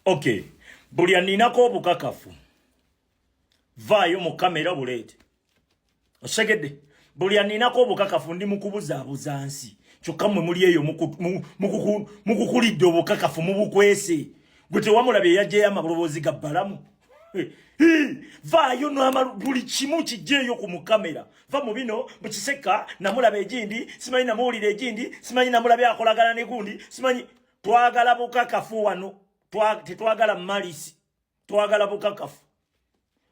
Okay. Buli aninako obukakafu. Vayo mu kamera bulete. Osegede. Buli aninako obukakafu ndi mukubuza abuzansi. Kyokka mwe muli eyo mukukulidde obukakafu mu bukwese gwe tewamulabye yajjeyo amaloboozi ga bbalamu vaayo nama buli kimu kijjeeyo ku mukamera va mu bino mukiseka namulaba egindi simanyi namuwulira egindi simanyi namulabye akolagana negundi simanyi twagala bukakafu wano tetwagala malisi twagala bukakafu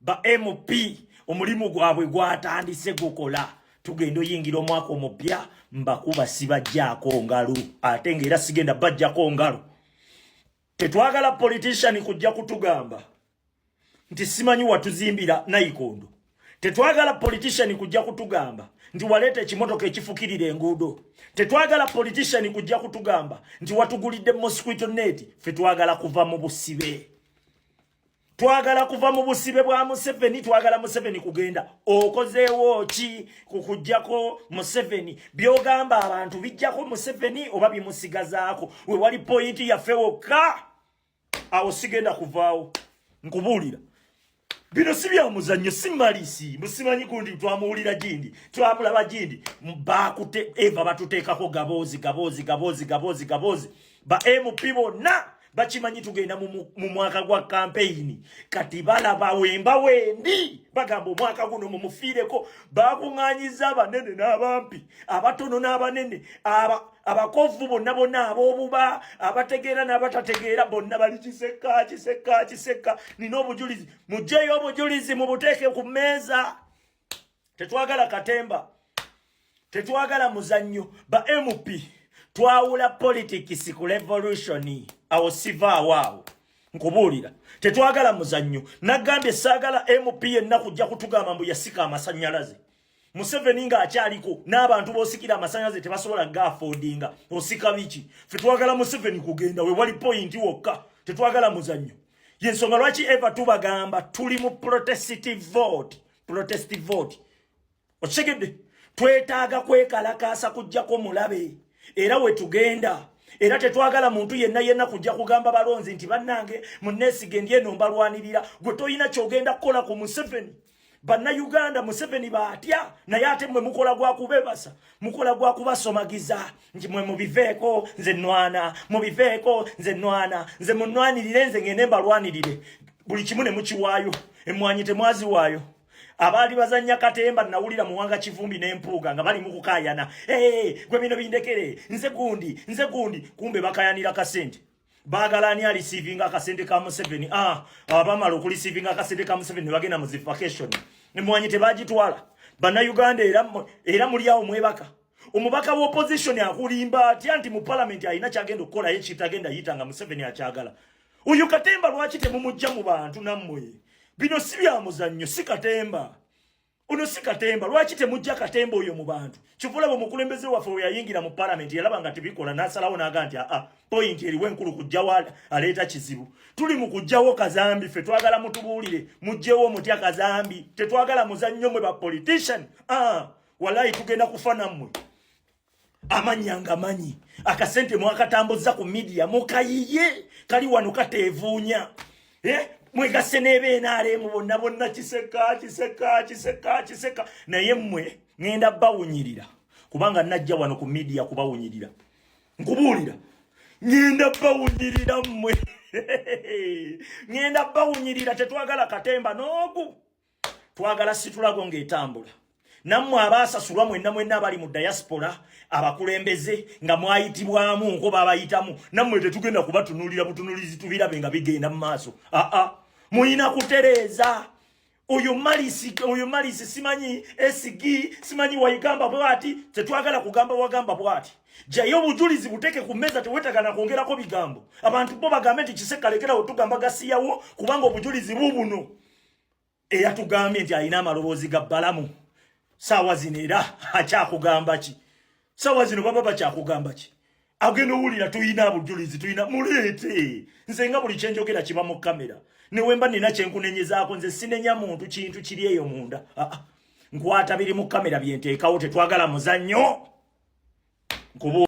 ba mp omulimu gwabwe gwatandise gukola tugenda oyingira omwaka omupya mbakuba sibajjaako ngalu ate ngaera sigenda bajjako ngalu tetwagala politician kujja kutugamba nti simanyi watuzimbira nayikondo tetwagala politician kujja kutugamba nti waleeta ekimotoka ekifukirira enguudo tetwagala politician kujja kutugamba nti watugulidde mosquito net fe twagala kuva mu busibe twagala kuva mu busibe bwa museveni twagala museveni kugenda okozeewo ki kukujjako museveni byogamba abantu bijjako museveni oba bimusigazaako wewali pointi yaffe wokka awo sigenda kuvaawo nkubuulira bino si bya muzannyo si malisi musimanyi kundi twamuwulira gindi twamulaba gindi bakute eva batuteekako gaboozi gaboozi gaboozi gaboozi gaboozi ba mp bonna bakimanyi tugenda mu mwaka gwa kampeyini kati balaba wemba wendi bagamba omwaka guno mumufiireko bakuŋŋanyiza abanene n'abampi abatono n'abanene aba abakovu bonna bonna ab'obuba abategeera n'abatategeera bonna bali kiseka kiseka kiseka nina obujulizi mugyeyo obujulizi mubuteeke ku mmeeza tetwagala katemba tetwagala muzannyo ba mp twawula politics ku revolution awo sivaawo awo nkubuulira tetwagala muzannyo naggambye saagala mp yenna kujja kutugamba mbu yasika amasanyalaze Museveni nga akyaliko n'abantu bosikira amasanyalaze tebasobola gaafodinga osika biki fe twagala Museveni kugenda we wali pointi wokka tetwagala muzannyo yensonga lwaki eva tubagamba tuli mu protestive vote protestive vote okitegedde twetaaga kwekalakaasa kujjako mulabe era we tugenda era tetwagala muntu yenna yenna kujja kugamba balonzi nti bannange munneesige ndi eno mbalwanirira gwe tolina kyogenda kukola ku museveni banna uganda museveni batya naye ate mwe mukola gwa kubebasa mukola gwa kubasomagiza nti mwe mubiveeko nze nwana mubiveeko nze nwana nze munwanirire nze ngende mbalwanirire buli kimu ne mukiwaayo emmwanyi temwaziwaayo abaali bazanya katemba nawulira muwanga kivumbi n'empuuga nga bali mukukayana hey, gwe bino bindekere nze gundi nze gundi kumbe bakayanira kasente bagala ani alisiivinga akasente ka museveni ah, abamala okulisiivinga akasente ka museveni nebagenda mu zivakation emwanyi tebagitwala bannayuganda era muli awo mwebaka omubaka wa opposition akulimba atya nti mu palamenti alina kyagenda okukolayo kitagenda yita nga museveni akyagala oyo katemba lwaki temumujja mu bantu nammwe bino si byamuzannyo si katemba Ono si katemba lwaki temujja katemba oyo mu bantu kivula bwe mukulembeze waffe we yayingira mu palamenti yalaba nga tebikola n'asalawo n'aga nti aa poyinti eriwo enkulu kujjawo aleeta kizibu tuli mu kujjawo kazambi ffe twagala mutubuulire mujjewo omutya kazambi tetwagala muzannyo mwe ba politician aa walayi tugenda kufa nammwe amanya nga manyi akasente mwakatambuzza ku midiya mukayiye kali wano kateevuunya eh? mwegase nebenaremu bonna bonna kiseka kiseka kiseka kiseka naye mmwe ŋenda bawunyirira kubanga najja wano ku midiya kubawunyirira nkubuulira ŋenda bawunyirira mmwe ŋenda bawunyirira tetwagala katemba noogu twagala situlago ng'etambula nammwe abaasasulwa mwenna mwenna abali mu diaspora abakulembeze nga mwayitibwamu nko babayitamu nammwe tetugenda kubatunulira butunulizi tubirabe nga bigenda mu maaso aa mulina kutereeza oyo malisi oyo malisi simanyi sg simanyi wayigamba bwati tetwagala kugamba wagamba bwati jayo obujulizi buteke ku meza tewetagana kwongerako bigambo abantu bo bagambe nti kisekalekerawo tugamba gasiyawo kubanga obujulizi bubuno eyatugambye nti alina amaloboozi ga balamu saawa zino era akyakugamba ki saawa zino baba bakyakugamba ki agenda owulira tulina abujulizi tulina muleete nze nga buli kyenjogera kiba mu kamera newemba nina kyenkunenyezaako nze sinenya muntu kintu kiri eyo munda ah, ah. nkwata biri mu kamera byenteekawo tetwagala muzannyo nkubu